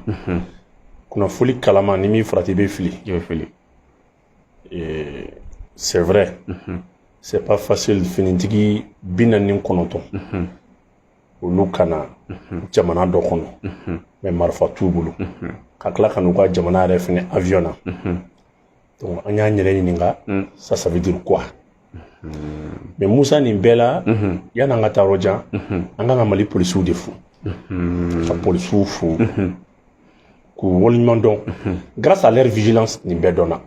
mhm. kunnafoli kalama n'i m'i farati i bɛ fili i bɛ fili c'est vrai mhm. c'est pas facile finitigi bi naani ni kɔnɔntɔn mhm. olu ka na jamana dɔ kɔnɔ mais marifa t'u bolo ka tila ka n'u ka jamana yɛrɛ fɛnɛ avion na donc an y'an yɛrɛ ɲininka ça ça veut dire quoi mais musa nin bɛɛ la yan'an ka taa yɔrɔ jan an kan ka mali polisiw de fo ka polisiw fo k'u waleɲuman dɔn grâce à leur vigilance nin bɛɛ dɔnna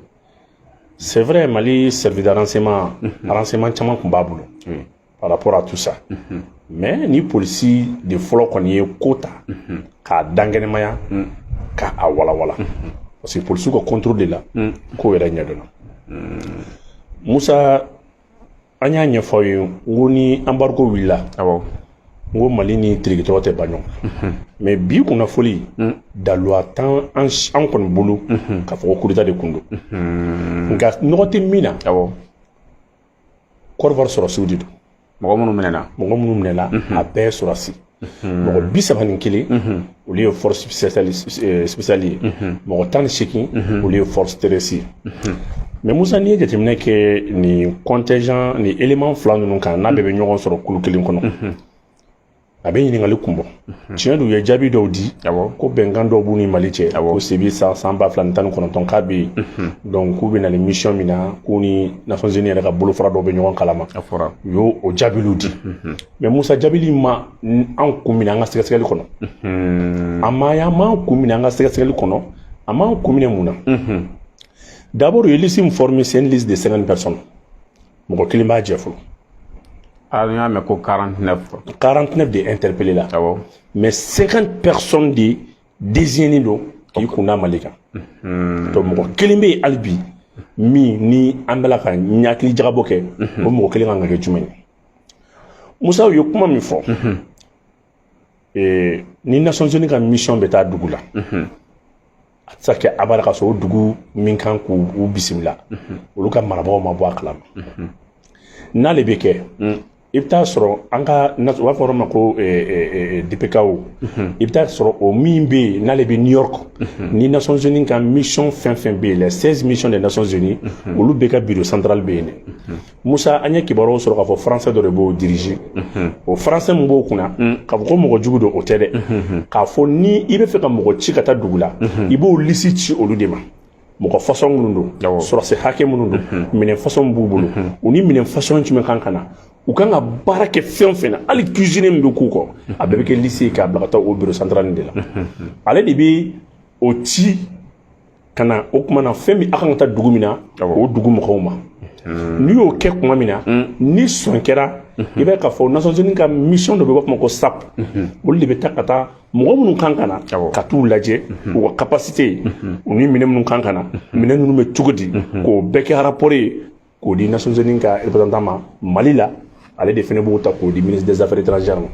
c'est vrai mali service de renseignement renseignement caman tun b'a bolo par rapport à tout ça mhm. mais ni polisi de fɔlɔ kɔni ye ko ta mhm. k'a dankɛnɛmaya mhm. ka a walawala parce que polisiw ka contrôle de la ko yɛrɛ ɲɛdɔnna musa an y'a ɲɛfɔ aw ye n ko ni embargo wulila awɔ n ko mali ni tirikitɔrɔ tɛ ban ɲɔgɔn mais bi kunnafoli daluwa t'an an kɔni bolo k'a fɔ ko coup d'état de kun don nka nɔgɔ tɛ min na awɔ côte d'ivoire sɔrɔsiw de don mɔgɔ minnu minɛna mɔgɔ minnu minɛna mhm. a bɛɛ sɔrɔsi mhm. mɔgɔ bi saba ni kelen mhm. olu ye force spéciale eh, ye mɔgɔ tan ni seegin olu ye force terrestre ye mais musa n'i ye jateminɛ kɛ nin contingent nin élément fila ninnu kan n'a bɛɛ bɛ ɲɔgɔn sɔrɔ kulu kelen kɔnɔ a bɛ ɲininkali kun bɔ mhm. tiɲɛ don u ye jaabi dɔw di ko bɛnkan dɔw b'u ni mali cɛ ko depuis san san ba fila ni tan ni kɔnɔntɔn k'a bɛ yen mhm. donc k'u bɛ na ni mission min na k'u ni nations unies yɛrɛ ka bolofara dɔw bɛ ɲɔgɔn kalama u y'o jaabiliw di mhm. mais musa jaabili ma an kun minɛ an ka sɛgɛsɛgɛli kɔnɔ a ma y'an m'an kun minɛ an ka sɛgɛsɛgɛli kɔnɔ a m'an kun minɛ mun na d'abord u ye liste min former c'est une liste de 50 personnes mɔgɔ kelen b'a jɛ fɔlɔ Ah, n y'a mɛn ko 49 quoi. 49 de interpellé la Awɔ. mais 50 personnes de désignénen don k'i kun da mali kan donc mɔgɔ kelen bɛ yen hali bi min ni an bɛ la ka hakilijagabɔ kɛ o mɔgɔ kelen kan ka kɛ jumɛn ye musa u ye kuma min fɔ ee ni nations unies ka mission bɛ taa dugu la a tɛ se ka kɛ abada ka sɔrɔ o dugu min kan k'u bisimila olu ka marabagaw ma bɔ a kalama n'ale bɛ kɛ i bɛ taa sɔrɔ an ka u b'a fɔ yɔrɔ ma ko dpko i bɛ taa sɔrɔ o min bɛ yen n'ale bɛ new york ni nations unies ka mission fɛn fɛn bɛ yen les 16 missions des nations unies olu bɛɛ ka bureau central bɛ yen dɛ Musa an ye kibaruyaw sɔrɔ k'a fɔ français dɔ de b'o diriger o français min b'o kunna k'a fɔ ko mɔgɔ jugu don o tɛ dɛ k'a fɔ ni i bɛ fɛ ka mɔgɔ ci ka taa dugu la i b'o lisi ci olu de ma mɔgɔ façon minnu don sɔrɔsi hakɛ minnu don minɛn façon b'u bolo u ni minɛn façon jumɛn kan ka na u kan ka baara kɛ fɛn o fɛn na hali cuisine min bɛ k'u kɔ a bɛɛ bɛ kɛ lisi ye k'a bila ka taa o bureau central de la ale de bɛ o ci ka na o tuma na fɛn min a kan ka taa dugu min na o dugu mɔgɔw ma n'i y'o kɛ tuma min na ni sɔn kɛra i b'a ye k'a fɔ nations unies ka mission dɔ bɛ b'a fɔ ko sap olu de bɛ taa ka taa mɔgɔ minnu kan ka na ka t'u lajɛ u ka capacité u ni minɛn minnu kan ka na minɛn ninnu bɛ cogo di k'o bɛɛ kɛ rapport ye k'o di nations unies ka représentant ma mali la ale de fɛnɛ b'o ta k'o di ministre des affaires étrangères ma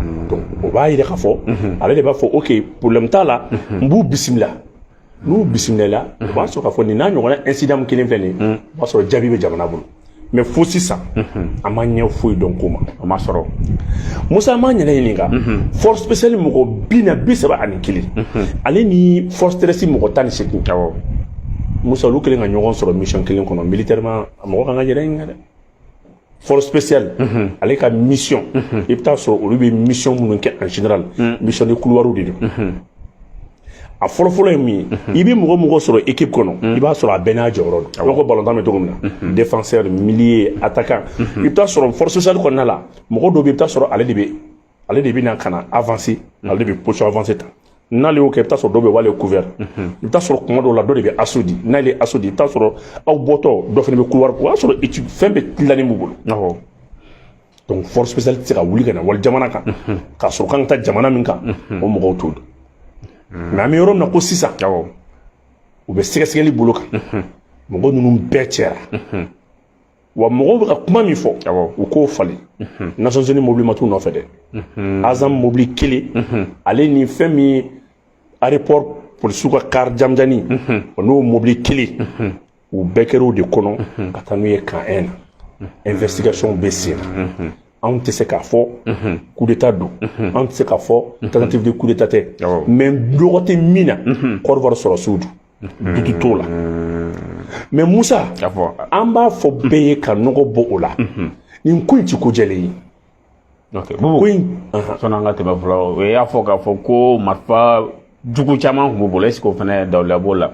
hmm. donc o b'a yira k'a fɔ hmm. ale de b'a fɔ ok problème t'a la hmm. n b'u bisimila n'u bisimilala o b'a sɔrɔ k'a fɔ nin n'a ɲɔgɔnna incident min kelen filɛ nin ye o b'a sɔrɔ jaabi bɛ jamana bolo mais fo sisan an ma ɲɛ foyi dɔn ko ma o ma sɔrɔ musa an m'an yɛrɛ ɲininka force spéciale mɔgɔ bi na bi saba ani kelen ale ni force terrestre mɔgɔ tan ni seegin musa olu kelen ka ɲɔgɔn sɔrɔ mission kelen kɔnɔ militairement a mɔgɔ kan k'a yɛrɛ ɲininka dɛ force spéciale mhm. ale ka mission mhm. i bɛ t'a sɔrɔ olu bɛ mission minnu kɛ en général mhm. mission de couloirs de don a fɔlɔfɔlɔ ye min ye i bɛ mɔgɔ o mɔgɔ sɔrɔ équipe kɔnɔ i b'a sɔrɔ a bɛɛ n'a jɔyɔrɔ don i b'a fɔ balontan bɛ cogo min na défenseur milieu attaquant i bɛ t'a sɔrɔ force spéciale kɔnɔna la mɔgɔ dɔw bɛ i bɛ t'a sɔrɔ ale de bɛ ale de bɛna ka na avancer mhm. ale de bɛ position avancée ta n'ale y'o kɛ i bɛ t'a sɔrɔ dɔw bɛ ale couvert mhm. i bɛ t'a sɔrɔ kuma dɔw la dɔ de bɛ assaut di n'ale ye assaut di i bɛ t'a sɔrɔ aw bɔtɔ dɔ fana bɛ couloir o y'a sɔrɔ équipe fɛn bɛɛ dilannen b'u bolo awɔ donc force spéciale tɛ se ka wuli ka na wali jamana kan mhm. k'a sɔrɔ kan ka taa jamana min kan o mɔgɔw t'o dɔn mais an bɛ yɔrɔ min na ko sisan awɔ u bɛ sɛgɛsɛgɛli bolo kan mɔgɔ ninnu bɛɛ cɛra wa mɔgɔw bɛ ka kuma min fɔ u k'o falen mhm. nations unies mobili ma t'u nɔfɛ dɛ mhm. asam mobili kelen mhm. ale ni fɛn min aéroport polisiw ka car jamjani o n'o mobili kelen u bɛɛ kɛr'o de kɔnɔ ka taa n'u ye camp 1 na investigation bɛ sen na anw tɛ se k'a fɔ coup d'état don anw tɛ se k'a fɔ tentative de coup d'état tɛ mais dogo tɛ min na Côte d'Ivoire sɔrɔsiw don doute t'o la mais musa an b'a fɔ bɛɛ ye ka nɔgɔ bɔ o la nin ko in ti ko jɛlen ye ko in sɔnni an ka tɛmɛ fɔlɔ o y'a fɔ k'a fɔ ko marifa jugu caman tun b'u bolo est ce que o fana daliluya b'o la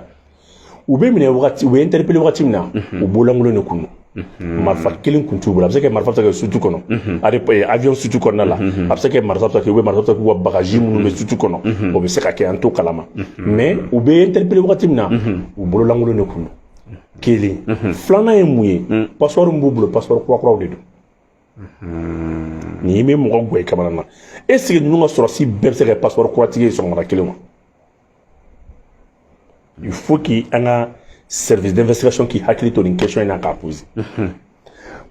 u bɛ minɛ wagati u bɛ interpeller wagati min na u bololankolon de tun don Mhm. marifa kelen kun t'u bolo a bɛ se ka marifa ta kɛ soute kɔnɔ mhm. a bɛ avion soute kɔnɔna la mhm. a bɛ se ka marifa ta kɛ u bɛ marifa ta k'u ka bagaji minnu bɛ soute kɔnɔ o bɛ se ka kɛ an t'o kalama mais u bɛ interpeller wagati min na u bololankolon de kun don kelen filanan ye mun ye passeport min b'u bolo passeport kura kuraw de don nin bɛ mɔgɔ gan i kamana na est ce que ninnu ka sɔrɔsi bɛɛ bɛ se ka kɛ passeport kuratigi ye sɔgɔmada kelen wa il faut que an ka service d'investigation k'i hakili to nin question in na k'a poser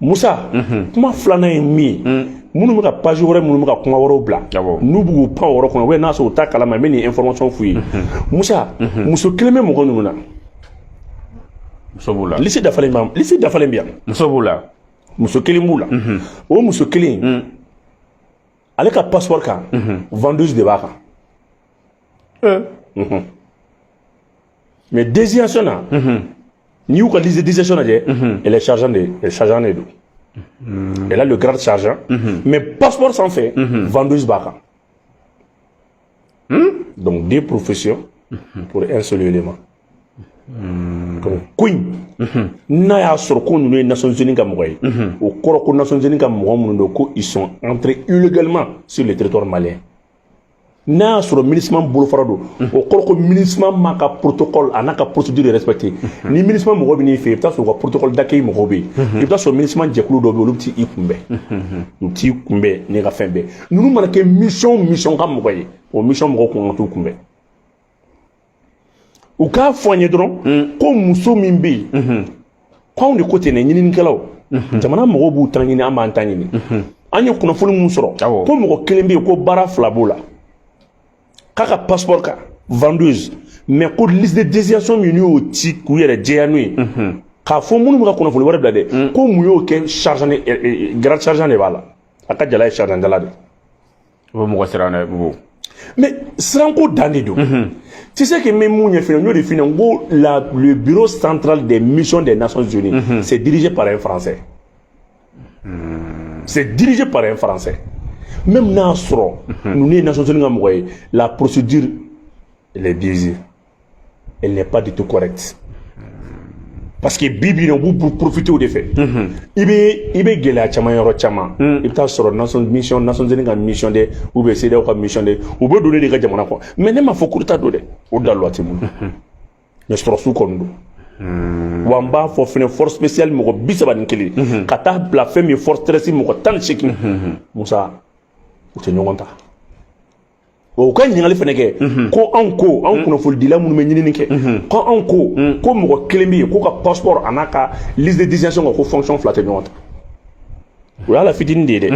musa kuma filanan ye min ye minnu bɛ ka page wɛrɛ minnu bɛ ka kuma wɛrɛw bila n'u b'u pan o yɔrɔ kɔnɔ ou bien n'a sɔrɔ u t'a kalama n bɛ nin information f'u ye musa muso kelen bɛ mɔgɔ ninnu na muso b'u la lisi dafalen b'a lisi dafalen bɛ yan muso b'u la muso kelen b'u la o muso kelen ale ka passeport kan vendeuse de b'a kan mais désignation na n'i y'u ka liste désignation lajɛ elle est sergent de ye sergent de don elle a le grade sergent mais passeport sanfɛ vendeuse b'a kan donc deux professions pour un seul élément donc ko in n'a y'a sɔrɔ ko ninnu ye nations unies ka mɔgɔ ye o kɔrɔ ko nations unies ka mɔgɔ minnu don ko ils sont entrés illégalement sur le territoire malien n'a y'a sɔrɔ MINUSMA bolofara don o kɔrɔ ko MINUSMA m'a ka protocole a n'a ka procédure respecté ni MINUSMA mɔgɔ bɛ n'i fɛ yen i bɛ taa sɔrɔ u ka protocole d'accueil mɔgɔw bɛ yen i bɛ taa sɔrɔ MINUSMA jɛkulu dɔw bɛ yen olu bɛ t'i kunbɛn u bɛ t'i kunbɛn n'i ka fɛn bɛɛ ninnu mana kɛ mission mission ka mɔgɔ ye o mission mɔgɔw kun ka t'u kunbɛn u k'a fɔ an ye dɔrɔn mm. ko muso min bɛ yen mm-hmm. ko anw de ko ten dɛ ɲininikɛlaw mm-hmm. jamana mɔgɔw b'u ta ɲini an b'an ta ɲini mm-hmm. an ye kunnafoni min sɔrɔ ko mɔgɔ kelen bɛ yen ko baara fila b'o la k'a ka passeport kan vendeuse mais ko liste de désignation min y'o ci k'u yɛrɛ jɛya n'o ye k'a fɔ minnu bɛ ka kunnafoni wɛrɛ bila dɛ mm. ko mun y'o kɛ sergent eh, eh, grade sergent de b'a la a ka jala ye sergent jala de O bɛ mɔgɔ siran dɛ bubu mais siranko dan de don tu sais que même mun ɲɛfin n y'o de f'i ɲɛna n ko la le bureau central des missions des nations unies c'est dirigé par un français c'est dirigé par un français même n'a sɔrɔ ninnu ye nations unies ka mɔgɔ ye la procédure elle est biaisée elle n'est pas du tout correcte parce que bi bi in na u b'u profiter o de fɛ i bɛ i bɛ gɛlɛya caman yɔrɔ caman i bɛ taa sɔrɔ nations mission nations unies ka mission de ou bien CEDEAO ka mission de u bɛ don ne de ka jamana kɔnɔ mais ne m'a fɔ coup d'état don dɛ o daliluya tɛ n bolo mais sɔrɔsiw kɔni don wa n b'a fɔ fɛnɛ force spéciale mɔgɔ bi saba ni kelen ka taa bila fɛn min ye force terrestre mɔgɔ tan ni seegin musa u tɛ ɲɔgɔn ta u ka ɲininkali fana kɛ mhm. ko anw ko anw mhm. kunnafolidila minnu bɛ ɲinini kɛ mhm. ko anw ko ko mɔgɔ kelen bɛ yen k'o ka passeport an'a ka liste de désignation kan ko fonction fila tɛ ɲɔgɔn ta o y'a la fitinin de ye dɛ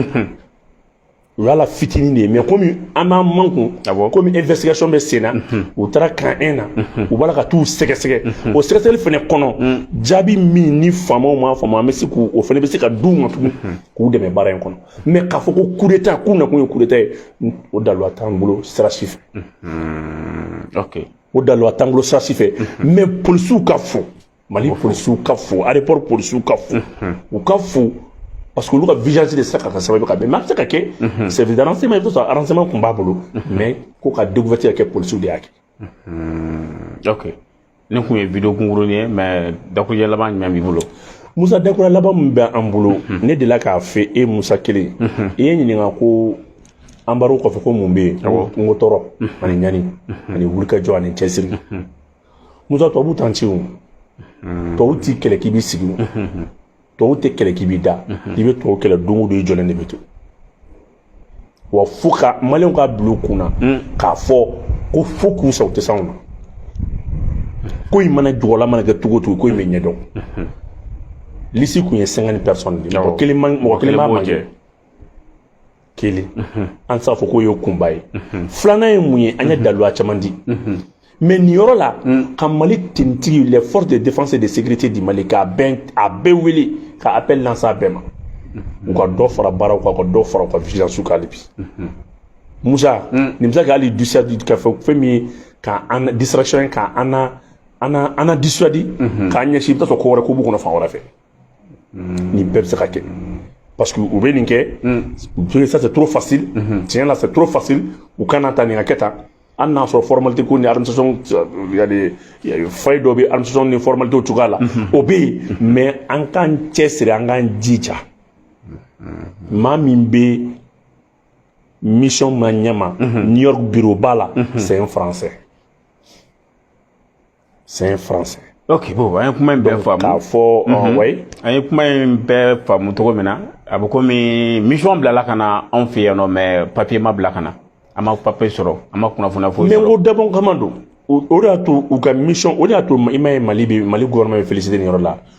o y'a la fitinin de ye mais komi an b'an makun komi investigation bɛ sen na u taara camp un na u b'a la ka t'u sɛgɛsɛgɛ o sɛgɛsɛgɛli fana kɔnɔ jaabi min ni faamaw m'a faamu an bɛ se k'o fana bɛ se ka d'u ma tugun k'u dɛmɛ baara in kɔnɔ mais k'a fɔ ko coup d'état k'u nakun ye coup d'état ye o daluwa t'an bolo sira si fɛ mm-hmm. o daluwa t'an bolo sira si fɛ mm-hmm. mais polisiw ka fo mali polisiw ka fo aéroport polisiw ka fo mm-hmm. u ka fo parce que olu ka vigilance de sera ka kɛ sababu ka bɛn mais a bɛ se ka kɛ service de renseignement i bɛ t'a sɔrɔ renseignement tun b'a bolo mais ko ka découverte ka kɛ polisiw de y'a kɛ ok ne tun ye video kunkuruni ye mais dakurujɛ laban jumɛn b'i bolo musa dakurujɛ laban min bɛ an bolo mhm. ne delila k'a fɔ e musa kelen mhm. i ye n ɲininka ko embargo kɔfɛ ko mun bɛ yen n ko tɔɔrɔ mhm. ani ɲani ani wulikajɔ ani cɛsiri musa tubabu t'an ci o tubabu tɛ kɛlɛ k'i b'i sigi tubabu tɛ kɛlɛ k'i b'i da i bɛ tubabu kɛlɛ don o don i jɔlen de bɛ to wa fo ka maliyɛnw k'a bila u kun na k'a fɔ ko fo k'u sa u tɛ s'anw na ko in mana juguya mana kɛ cogo o cogo ko in bɛ ɲɛdɔn liste tun ye cinquante personnes de ye mɔgɔ kelen man mɔgɔ kelen b'a manquer kelen an tɛ se k'a fɔ k'o ye kunba ye filanan ye mun ye an ye daluya caman di mais nin yɔrɔ la ka mali tenitigi les forces de défense et de sécurité du mali k'a bɛn a bɛɛ wele ka appel lancer a bɛɛ ma u ka dɔ fara baaraw kan ka dɔ fara u ka vigilance kan hali bi musa nin bɛ se ka hali dissuader ka fɛ fɛn min ye ka an distraction ka an na an na an na dissuader k'an ɲɛsin i bɛ taa sɔrɔ ko wɛrɛ ko b'u kɔnɔ fan wɛrɛ fɛ nin bɛɛ bɛ se ka kɛ parce que u bɛ nin kɛ u ça c'est trop facile tiɲɛ la c'est trop facile u kana ta nin ka kɛ tan hali n'a sɔrɔ formalité ko ni administration yani faille dɔ bɛ administration ni formalité cogoya la o bɛ yen mais an k'an cɛsiri an k'an jija maa min bɛ minusma ɲɛma new york bureau ba la c'est un français c'est un français ok bon an ye kuma in bɛɛ faamu k'a fɔ mhm. ouais an ye kuma in bɛɛ faamu cogo min na a bɛ komi mission bilala ka na anw fɛ yan nɔ mais papier ma bila ka na an ma papier sɔrɔ an ma kunnafoniya foyi sɔrɔ mais n ko dabɔn kama don o de y'a to u ka mission o de y'a to i m'a ye mali bɛ mali gouvernement bɛ féliciter nin yɔrɔ la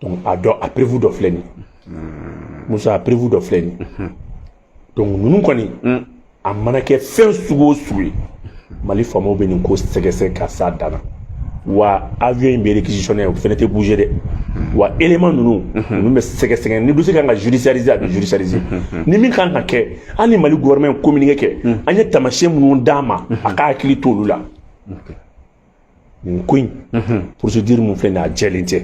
donc a dɔ a preuve dɔ filɛ nin hmm. musa a preuve dɔ filɛ nin hmm. donc ninnu kɔni hmm. a mana kɛ fɛn sugu o sugu ye mali faamaw bɛ nin ko sɛgɛsɛgɛ ka s'a dan na wa avion in bɛ réquisitionné o fɛnɛ tɛ bouger dɛ wa élément ninnu ninnu bɛ sɛgɛsɛgɛ ni dossier kan ka judiciariser a bɛ judiciariser ni min kan ka kɛ hali mali gouvernement ye communiqué kɛ an ye taamasiyɛn minnu d'a ma a ka hakili t'olu la nin ko in procédure min filɛ nin a jɛlen tɛ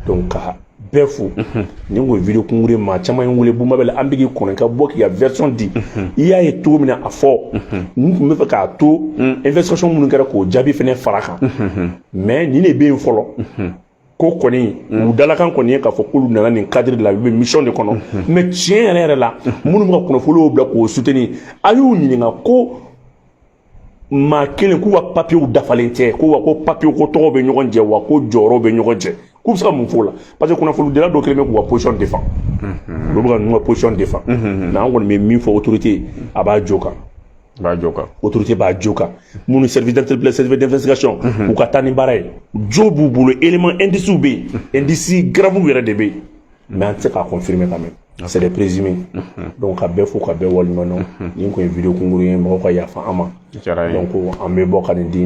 donc ka bɛɛ fo nin ko video kunkuru ye maa caman ye n wele bubu mabɛl an bɛ k'i kɔnɔ ka bɔ k'i ka version di i y'a ye cogo min na a fɔ n tun b'a fɛ k'a to investigation minnu kɛra k'o jaabi fana fara kan mais nin de bɛ yen fɔlɔ ko kɔni u dalakan kɔni ye k'a fɔ k'olu nana nin cadre de la u bɛ mission de kɔnɔ mais tiɲɛ yɛrɛ yɛrɛ la minnu bɛ ka kunnafoniw bila k'o soutenir a y'u ɲininka ko maa kelen k'u ka papiyew dafalen tɛ ko wa ko papiyew ko tɔgɔ bɛ ɲɔgɔn jɛ wa ko jɔyɔrɔ bɛ ɲɔgɔn jɛ k'u bɛ se ka mun f'o la parce que kunnafonidila dɔw kɛlen bɛ k'u ka position défendre olu bɛ ka ninnu ka position défendre mais an kɔni bɛ min fɔ autorité a b'a jo kan b'a jo kan autorité b'a jo kan minnu service d'interpellation service d'investigation u ka taa ni baara ye jo b'u bolo élément indices bɛ yen indices graves yɛrɛ de bɛ yen mais an tɛ se k'a confirmer quand même c'est des présumés mhm. donc ka bɛɛ fo ka bɛɛ waleɲuman dɔn mhm. nin tun ye video kunkuru ye mɔgɔw ka yafa an ma donc an bɛ bɔ ka nin di